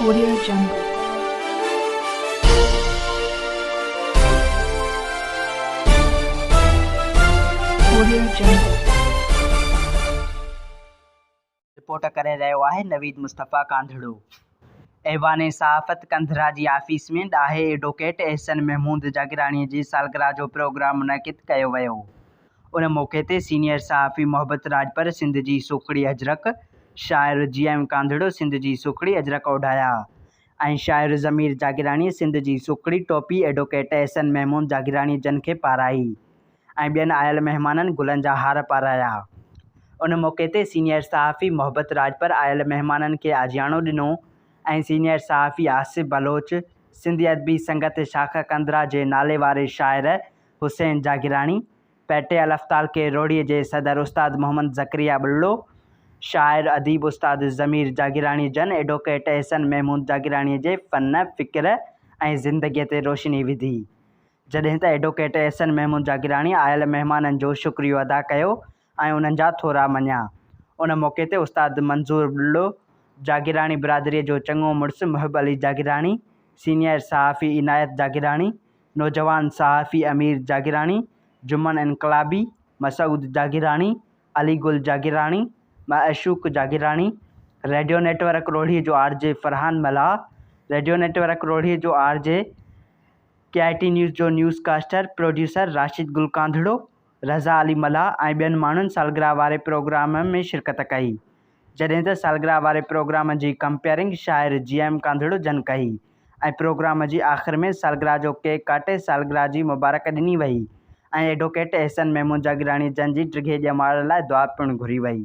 Report ڪري رهيو آهي نويد مصطفيٰ ڪانڌڙو. ايوان صحافت ڪنڌرا جي آفيس ۾ ڏاهي ايڊووڪيٽ احسن محمود جاگيراڻي جي سالگرهه جو پروگرام منعقد ڪيو ويو. ان موقعي تي سينيئر صحافي محبت راڄپر سنڌ جي سوکڙي اجرڪ، شاعر جي ايم ڪانڌڙو سنڌ جي سوکڙي اجرڪ اوڍايا ۽ شاعر ضمير جاگيراڻي سنڌ جي سوکڙي ٽوپي ايڊوڪيٽ احسن محمود جاگيراڻي جن کي پارائي ۽ ٻين آيل مهمانن گلن جا هار پارايا ان موقعي تي سينيئر صحافي محبت راڄپر آيل مهمانن کي آجياڻو ڏنو ۽ سينيئر صحافي آصف بلوچ سنڌي ادبي سنگت شاخ قندرا جي ناليواري شاعر حسين جاگيراڻي، پيٽي الافطال کي روهڙيء جي صدر استاد محمد زڪريا ٻلڙو، شاعر اديب استاد ضمير جاگيراڻي جن ايڊووڪيٽ احسن محمود جاگيراڻيء جي فن، فڪر ۽ زندگيء تي روشني وڌي. جڏهن ته ايڊووڪيٽ احسن محمود جاگيراڻي آيل مهمانن جو شڪريو ادا ڪيو آئون انهن جا ٿورا مڃان. ان موقعي تي استاد منظور ٻلڙو، جاگيراڻي برادريء جو چڱو مڙس محب علي جاگيراڻي، سينيئر صحافي عنايت جاگيراڻي، نوجوان صحافي امير Jagirani, Juman Inqilabi, Masood Jagirani, Ali Gul Jagirani, Mashooq Jagirani, radio network روهڙيء جو R J Farhan Mallah, radio network روهڙيء جو R J, K I T news جو newscaster producer Rashid Gul Kandhro, Raza Ali Mallah ۽ ٻين ماڻهن سالگرهه واري پروگرام ۾ شرڪت ڪئي، جڏهن ته سالگرهه واري پروگرام جي ڪمپيئرنگ شاعر جي ايم ڪانڌڙو جن ڪئي ۽ پروگرام جي آخر ۾ سالگرهه جو ڪيڪ ڪاٽي سالگرهه جي مبارڪ ڏني وئي ۽ ايڊووڪيٽ احسن محمود جاگيراڻي جن جي ڊگهي ڄمار لاء دعا پڻ گهري وئي.